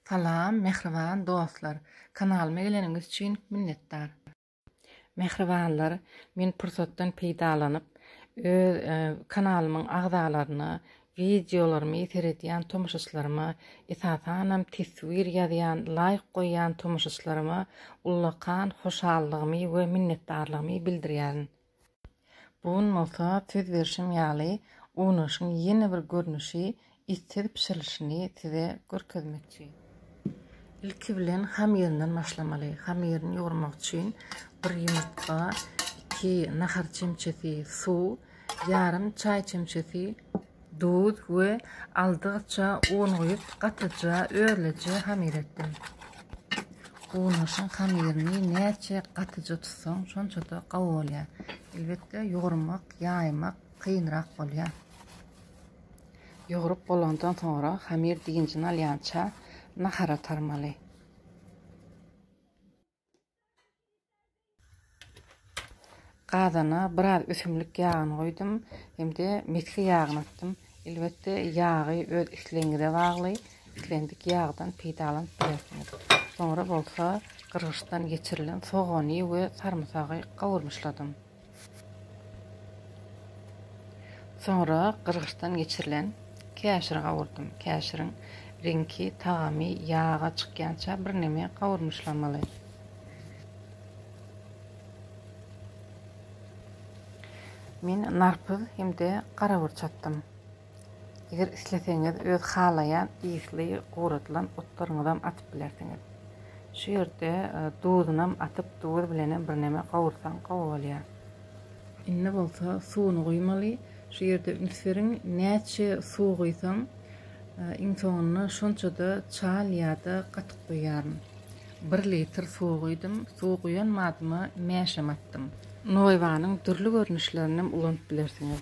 Salam mähriban dostlar kanalyma geleniňiz üçin minnetdar. Mähribanlar men pursatdan peýdalanyp öz kanalymyň agzalaryna wideolarymy seredýän tomaşaçylaryma esasanam teswir ýazýan laýk goýýan tomaşaçylaryma ullakan hoşallygymy we minnetdarlygymy bildirýärin. Bu gün bolsa söz berşim ýaly unaşyň ýene bir görnüşi issiz bişirilişini size görkezmekçi. Ilki bilen hamyryndan başlamaly. Hamyryny ýugurmak üçin bir ýumurtga, iki nahar çemçesi suw, ýarym çaý çemçesi duz we aldygyça un guýup, gatyja özleje hamyr etdim. Unaşyň hamyryny näçe gatyja tutsaň, şonça-da gawy bolýar. Elbetde, ýugurmak, ýaýmak kynrak bolýar. Ýugrup bolandan soňra, hamyr dynjyny alýança nahara tarmaly. Gazana biraz ösümlik ýagyny goýdum hem-de mesge ýagyny atdym. Elbetde ýagy öz islegiňize bagly, islendik ýagdan peýdalanyp bilersiňiz. Soňra bolsa gyrgyçdan geçirilen sogany we sarymsagy gawurmyşladym. Soňra gyrgyçdan geçirilen käşiri gawurdym. Käşiriň reňki, tagamy ýaga çykýança birneme gawurmyşlamaly. Men narpyz hem-de garabur çapdym. Eger isleseňiz öz halaýan ysly guradylan otlaryňyzam atyp bilersiňiz. Şu ýerde duzunam atyp duz bilenem birneme gawursaň gowy bolýar. Indi bolsa suwuny guýmaly. Şu ýerde üns beriň, näçe suw guýsam iň soňunda şonçada çal ýa-da gatyk guýýaryn. Bir litr suw guýdum. Suw guýan madyma mäşem atdym. Noýbanyň dürli görnüşlerinem ulanyp bilersiňiz.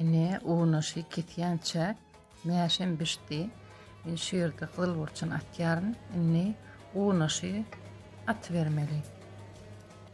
Ine, unaşy kesýänçä mäşem bişdi. Men şu ýerde gyzyl burçuny atýaryn. Indi unaşy atybermeli.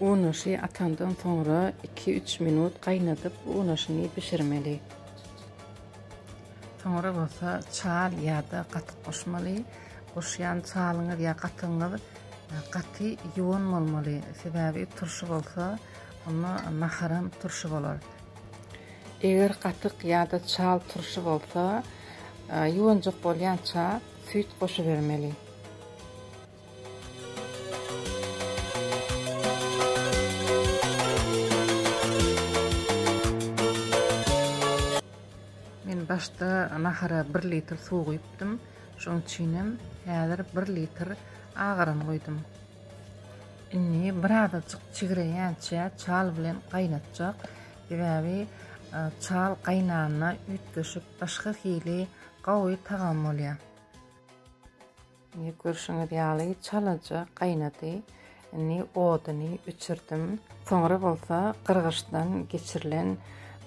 Unaşy atandan soňra iki-üç minut gaýnadyp unaşyny bişirmeli. Soňra bolsa çal ýa-da gatyk goşmaly. Goşýan çalyňyz ýa gatygyňyz gaty ýuwan bolmaly, sebäbi turşy bolsa onda naharam turşy bolar. Eger gatyk ýa-da çal turşy bolsa, ýuwanjak bolýança süýt goşubermeli. Men başda nahara bir litr suw guýupdym. Şoň üçinem häzir bir litr agaran guýdum. Indi birazajyk çigreýänçä çal bilen gaýnatjak. Sebäbi çal gaýnanda üýtgeşik başga hili gowy tagam bolýar. Indi görşüňiz ýaly çalaja gaýnady. Indi oduny öçürdim. Soňra bolsa gyrgyçdan geçirilen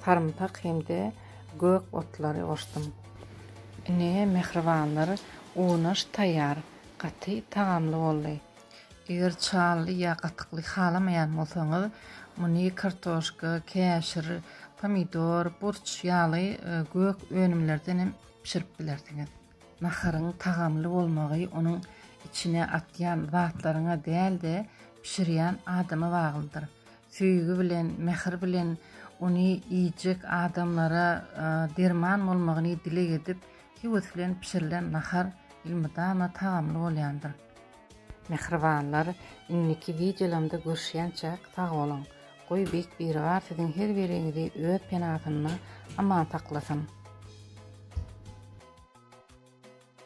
sarymsak hem-de gök otlary goşdum. Ine, mähribanlar, unaş taýýar. Gaty tagamly boldy. Eger çaly ýa gatykly halamaýan bolsaňyz, muny kartoşka, käşir, pomidor, burç ýaly gök önümlerden hem bişirip bilersiňiz. Naharyň tagamly bolmagy onuň içine atýan zatlaryňa däl-de, bişirýän adama baglydyr. Söýgi bilen, mähir bilen ony iýjek adamlara derman bolmagyny dileg edip, höwes bilen bişirilen nahar elmydama tagamly bolýandyr. Mähribanlar, indiki wideolarymda görüşýänçäk sag boluň! Goý Beýik Biribar siziň her biriňizi öz penasynda aman saklasyn!